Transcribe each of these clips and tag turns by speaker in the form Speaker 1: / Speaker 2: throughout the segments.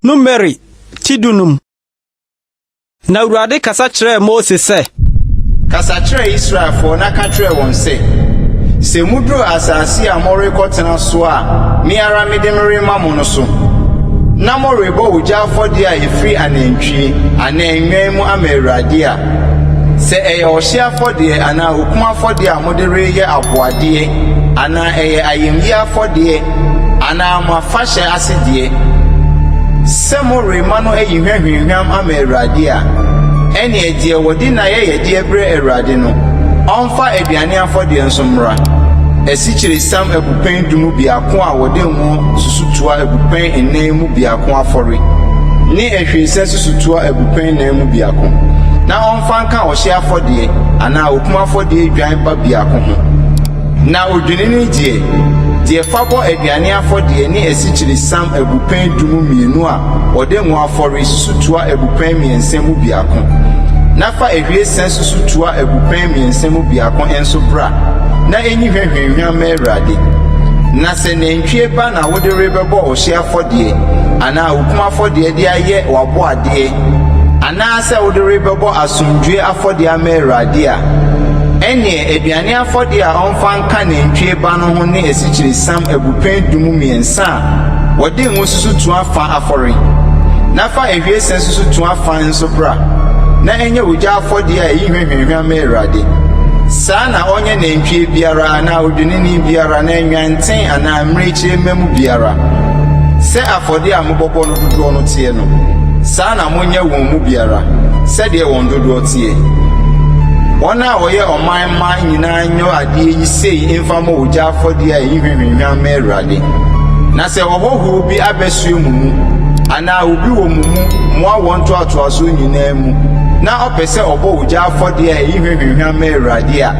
Speaker 1: Numeri ti dunum. Na Awurade kasa kyerɛɛ Mose sɛ. Kasa
Speaker 2: kyerɛ Israelfoɔ na ka kyerɛ wɔn sɛ, Sɛ muduru asase a morekɔtena so a me ara mede no rema mo no so, na morebɔ ogya afɔdeɛ a ɛfiri anantwie anaa nnwan mu ama Awurade a, Sɛ ɛyɛ ɔhyeɛ afɔdeɛ anaa okum afɔdeɛ a mode reyɛ aboadeɛ anaa ɛyɛ ayamyie afɔdeɛ anaa mo afahyɛ ase deɛ, sɛ morema no ayi hwahwinhwam ama Awurade a, ɛnneɛ deɛ wɔde n'ayɛyɛdeɛ brɛ Awurade no, ɔmfa aduane afɔdeɛ nso mmra, asikyiresiam abupɛn du mu biako a wɔde ngo susutoa abupɛn nnan mu biako afɔre, ne ahwiesa susutoa abupɛn nan mu biako afɔre. no mu biako, na ɔmfa nka ɔhyeɛ afɔdeɛ anaa okum afɔdeɛ dwan ba biako ho, na odwennini deɛ, deɛ fa bɔ aduane afɔdeɛ ne asikyiresiam abupɛn du mu mmienu a wɔde ngo afɔre susutoa abupɛn mmiɛnsa mu biako, na fa ahwiesa susutoa abupɛn mmiɛnsa mu biako nso bra na ɛnyi hwahwaanhwa ma Awurade. Na sɛ nantwie ba na wode rebɛbɔ ɔhyeɛ afɔdeɛ anaa okum afɔdeɛ de ayɛ w'aboadeɛ Anaasɛ wode rebɛbɔ asomdwoe afɔdeɛ ama Awurade a, ɛnneɛ aduane afɔdeɛ a ɔmfa nka nantwie ba no ho ne asikyiresiam abupɛn du mu mmiɛnsa a wɔde ngo susu toa fã afɔre, na fa ahwiesa susu toa fã nso bra, na ɛnyɛ ogya afɔdeɛ a ɛyi hwɛhwɛhwɛ ama Awurade. Saa na ɔnyɛ nantwie biara anaa odwennini biara anaa nnwanten anaa mmirekyie mma mu biara sɛ afɔdeɛ a mobɔbɔ no dodoɔ no teɛ no, saa na monyɛ wɔn mu biara sɛdeɛ wɔn dodoɔ teɛ. Wɔn a wɔyɛ ɔman mma nyinaa nyɔ adeɛ yi sei mfa mmɔ ogya afɔdeɛ a ɛyi hwahwahwa mma Awurade. Na sɛ ɔhɔhoɔ bi abɛsoɛ mo mu, anaa obi wɔ mo mu, mo awoɔ ntoatoasoɔ nyinaa mu, na ɔpɛ sɛ ɔbɔ ogya afɔdeɛ a ɛyi hwahwahwa mma Awurade a,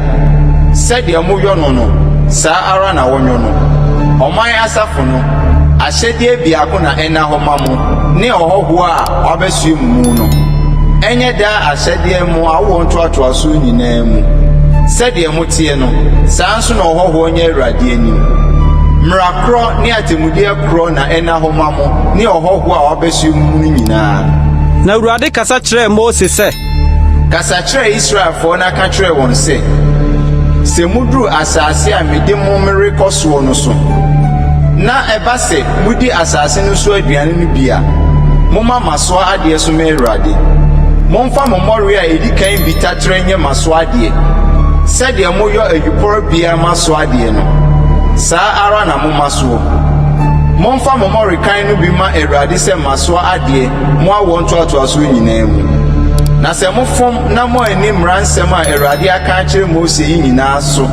Speaker 2: sɛdeɛ moyɔ no no, saa ara na wɔnyɔ no. Ɔman asafo no, Ahyɛdeɛ biako na ɛnna hɔ ma mo ne ɔhɔhoɔ a wabɛsoɛ mo mu no, ɛnyɛ daa ahyɛdeɛ mo awoɔ ntoatoasoɔ nyinaa mu. Sɛdeɛ moteɛ no, saa nso na ɔhɔhoɔ nyɛ Awurade anim. Mmara korɔ ne atemmudeɛ korɔ na ɛnna hɔ ma mo ne ɔhɔhoɔ a wabɛsoɛ mo mu no nyinaa. Na Awurade
Speaker 1: kasa kyerɛɛ Mose sɛ. Kasa kyerɛ
Speaker 2: Israelfoɔ na ka kyerɛ wɔn sɛ, 'Sɛ moduru asaase a mede mo merekɔ soɔ no so, na ɛba sɛ modi asaase no so aduane no bi a, momma masoa adeɛ so me Awurade. Momfa mo mmɔreɛ a ɛdi kan bi taterɛ nyɛ masoa adeɛ. Sɛdeɛ moyɔ ayuporo biara masoa adeɛ no, saa ara na momma soɔ. Momfa mo mmɔrekan no bi mma Awurade sɛ masoa adeɛ mo awoɔ ntoatoasoɔ nyinaa mu. Na sɛ mofom na moanni mmara nsɛm a Awurade aka akyerɛ Mose yi nyinaa so,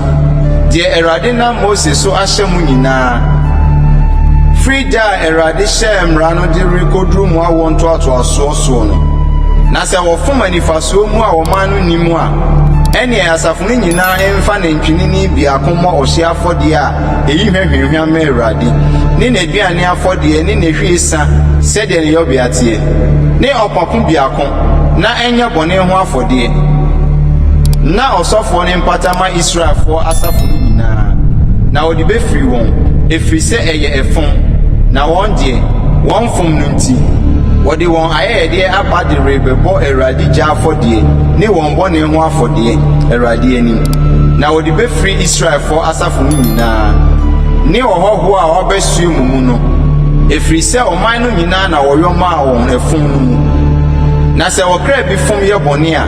Speaker 2: deɛ Awurade nam Mose so ahyɛ mo nyinaa, firi da a Awurade hyɛɛ mmara no de rekɔduru mo awoɔ ntoatoasoɔ soɔ no, na sɛ wɔfom anifasoɔ mu a ɔman no nnim a, ɛnneɛ asafo no nyinaa mfa nantwinini biako mmɔ ɔhyeɛ afɔdeɛ a Eyi hwɛ hwamhwam ma Awurade, ne n'aduane afɔdeɛ ne n'ahwiesa sɛdeɛ ne yɔbea teɛ, ne ɔpapo biako, na ɛnyɛ bɔne ho afɔdeɛ. Ná ɔsɔfoɔ no mpata ma Israelfoɔ asafo no nyinaa, na ɔde bɛfiri wɔn, ɛfiri sɛ ɛyɛ ɛfom, na wɔn deɛ, wɔmfom no nti, wɔde wɔn ayɛyɛdeɛ aba de rebɛbɔ Awurade gya afɔdeɛ ne wɔn bɔne ho afɔdeɛ Awurade anim, na wɔde bɛfiri Israelfoɔ asafo no nyinaa. asraafo no nyinaa ne ɔhɔho a ɔabɛsoɛ mo mu no, ɛfiri sɛ ɔman no nyinaa na wɔyɔ maa wɔn ɛfom no mu. Na sɛ ɔkra bi fom yɛ bɔne a,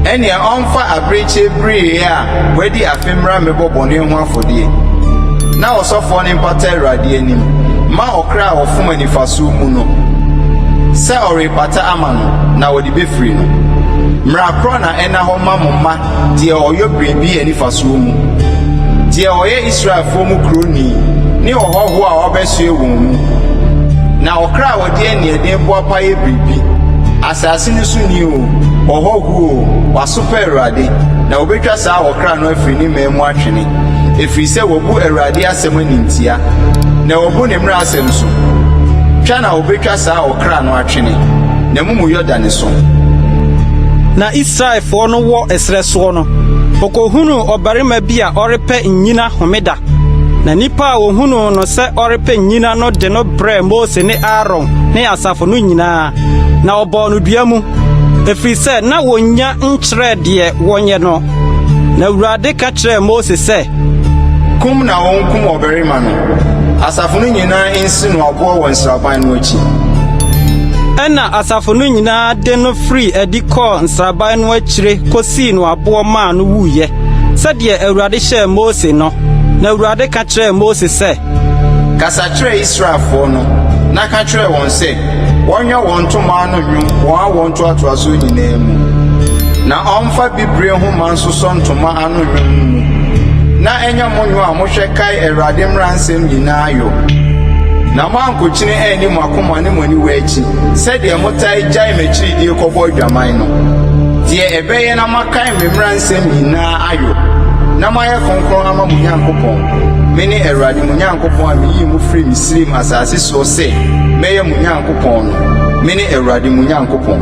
Speaker 2: ɛnneɛ ɔmfa abirekyie bereɛ a wadi afe mmra mmɛbɔ bɔne ho afɔdeɛ, na ɔsɔfoɔ no mpata Awurade anim mma ɔkra a ɔfom anifasoɔ mu no sɛ ɔrepata ama no na ɔde bɛfiri no. Mmara korɔ na ɛnna hɔ ma mo mma deɛ ɔyɔ biribi anifasuo mu, deɛ ɔyɛ Israelfoɔ mu kuroni ne ɔhɔhoɔ a ɔbɛsoɛ wɔn mu, na ɔkra a ɔde aniɛden boapa yɛ biribi, asase no so ni oo, ɔhɔhoɔ oo, wasopɛ Awurade, na wɔbɛtwa saa ɔkra no afiri ne mmaa mu atwene, ɛfiri sɛ wabu Awurade asɛm animtia, na wabu ne mmara asɛm so, twa na wɔbɛtwa saa ɔkra no atwene, n'amumuyɔ da ne so.
Speaker 1: Na Israelfoɔ no wɔ ɛserɛ soɔ no, wɔkɔhunuu ɔbarima bi a ɔrepɛ nnyina homeda. Na nnipa a wɔhunuu no sɛ ɔrepɛ nnyina no de no brɛɛ Mose ne Aaron ne asafo no nyinaa, na wɔbɔɔ no dua mu, ɛfiri sɛ na wɔnnya nkyerɛɛ deɛ wɔnyɛ no. Na Awurade ka kyerɛɛ Mose sɛ. Kum
Speaker 2: na wɔnkum ɔbarima no. Asafo no nyinaa nsi. si no aboɔ wɔ nsraban no akyi.
Speaker 1: Ɛnna asafo no nyinaa de no firii adi kɔɔ nsraban no akyire kɔsii no aboɔ maa no wuiɛ, sɛdeɛ Awurade hyɛɛ Mose no. Na Awurade ka kyerɛɛ Mose sɛ. Kasa
Speaker 2: kyerɛ Israelfoɔ no, na ka kyerɛ wɔn sɛ wɔnyɛ wɔn ntomaa no nnwom wɔn awoɔ ntoatoasoɔ nyinaa mu, na wɔmfa bibire nhoma nsosɔ ntoma ano. no nnwom no mu, na ɛnyɛ mo nnwom a mohwɛ kae Awurade mmara nsɛm nyinaa yɔ, na moankokyene anni mo akoma ne mo aniwa akyi, sɛdeɛ motae gyae m'akyiridie kɔbɔ adwaman no, deɛ ɛbɛyɛ na moakae me mmara nsɛm nyinaa ayɔ, na moayɛ kronkron ama mo Nyankopɔn. Mene Awurade mo Nyankopɔn a meyii mo firii Misraim asase soɔ sɛ mɛyɛ mo Nyankopɔn no. Mene Awurade mo Nyankopɔn.